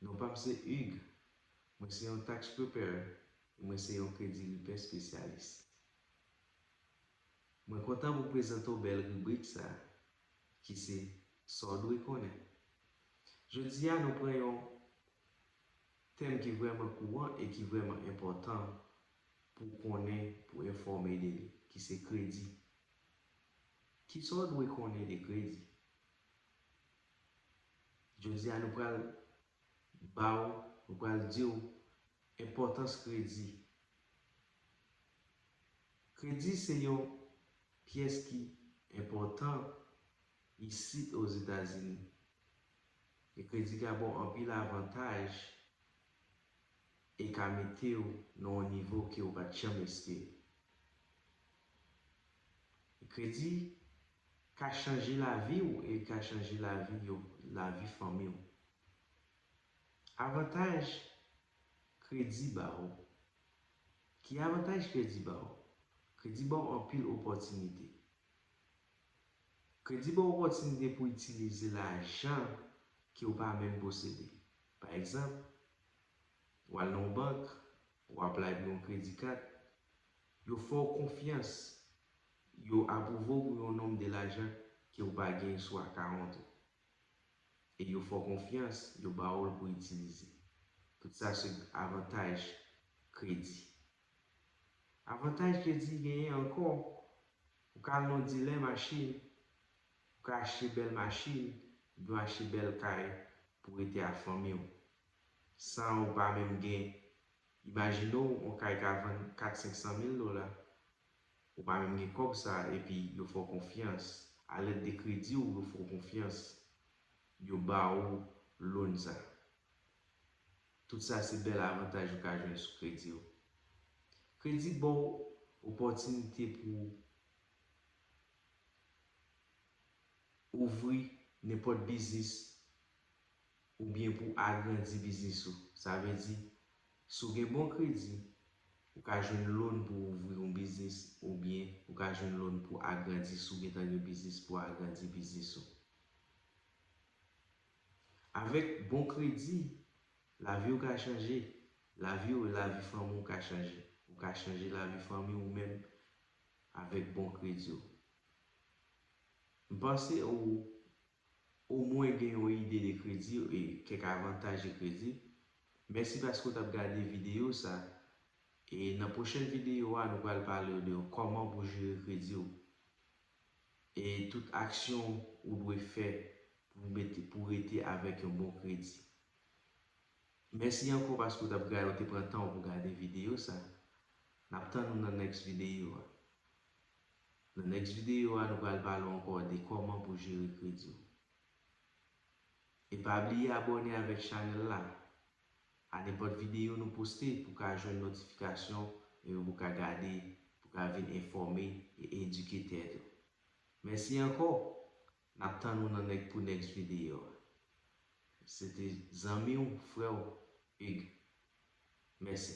Non pa m se Hugues, mwen se yon tax preparer e mwen se yon kredi repair spesyalis. Mwen kontan pou prezante w bèl ribrik sa a ki se Sa w dwe konnen. Jodi a nou pran yon tèm ki vrèman kouran e ki vrèman enpòtan Pou konnen, pou enfòme de li. Ki se kredi. Ki sa w dwe konnen de kredi? Jodi a nou pral ba w, nou pral di w enpòtans kredi. Kredi se yon pyès ki enpòtan isit Ozetazini. E kredi ka ba w anpil avantaj E ka mete w nan yon nivo ke ou pa t janm espere. Kredi ka chanje lavi w e li ka chanje lavi yo, lavi fanmi w. Avantaj kredi ba w. Ki avantaj kredi ba w? Kredi ba w anpil opòtinite. Kredi ba w opòtinite pou itilize lajan ke ou pa menm posede. Pa egzanp, W al nan yon bank, ou apply pou yon kredi kat, yo fè w konfyans, yo apwouve w pou yon nonb de lajan ke ou pa gen sou akawont ou. E yo fè w konfyans, yo ba w l pou itilize. Tout sa se avantaj kredi. Avantaj kredi genyen ankò, ou ka al nan yon dilè machin, ou ka achte bèl machin, oubyen w achte bèl kay pou w rete ak fanmi w. San ou pa menm gen. Imajine w on kay ka vann 4 500 mil dola. Ou pa menm gen kòb sa epi yo fè w konfyans. A lèt de kredi w yo fè w konfyans. Yo ba ou loan sa. Tout sa se bèl avantaj ou ka jwenn sou kredi w. Kredi ba w opòtinite pou w ouvri nenpòt biznis Oubyen pou agrandi biznis ou. Sa vle di, si w gen bon kredi, ou ka jwenn lon pou ouvri yon biznis oubyen ou ka jwenn lon pou agrandi si w gen tan gen biznis pou agrandi biznis ou. Avèk bon kredi, lavi w ka chanje. Lavi w, lavi fanmi w ka chanje. Ou ka chanje lavi fanmi w menm avèk bon kredi w. M panse ou Ou mwen gen yon ide de kredi e kèk avantaj de kredi. Mèsi paske ou tap gade videyo sa e nan pwochèn videyo a nou pral palew de kòman pou jere krediw e tout aksyon ou dwe fè pou mete pou rete avèk yon bon kredi. Mèsi ankò paske ou tap gade ou te pran tanw pou gade videyo sa. Nap tann ou nan next videyo a. Nan next video a nou pral pale w ankò de kòman pou jere kredi w. E pa bliye abòne avèk chanèl la a nenpòt video nou poste pou ka jwenn notifikasyon epi pou ka gade pou ka vin enfòme e edike tèt ou. Mèsi ankò, nap tann ou nan nèk pou next video a. Se te zanmi w, frè w, Hugues. Mèsi.